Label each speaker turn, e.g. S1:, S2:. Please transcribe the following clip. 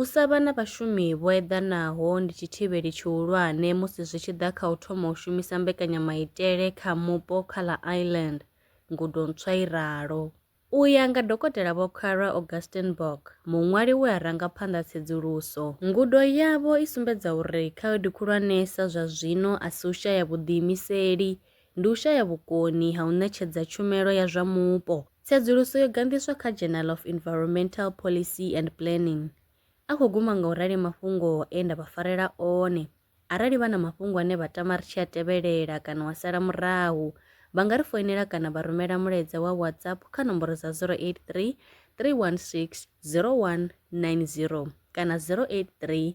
S1: U sa vha na vhashumi vho eḓanaho ndi tshithivheli tshihulwane musi zwi tshi ḓa kha u thoma u shumisa mbekanyamaitele kha mupo kha ḽa Ireland, ngudo ntswa i ralo. U ya nga Dokotela Vho Kara Augustenborg, muṅwali we a ranga phanḓa tsedzuluso, ngudo yavho i sumbedza uri khaedu khulwanesa zwa zwino a si u shaya vhuḓiimiseli ndi u shaya vhukoni ha u ṋetshedza tshumelo ya zwa mupo. Tsedzuluso yo ganḓiswa kha Journal of Environmental Policy and Planning. A khou guma nga u rali mafhungo e nda vha farela one. Arali vha na mafhungo ane vha tama ri tshi a tevhelela kana wa sala murahu, vha nga ri foinela kana vha rumela mulaedza wa WhatsApp kha nomboro dza 083 316 0190 kana 083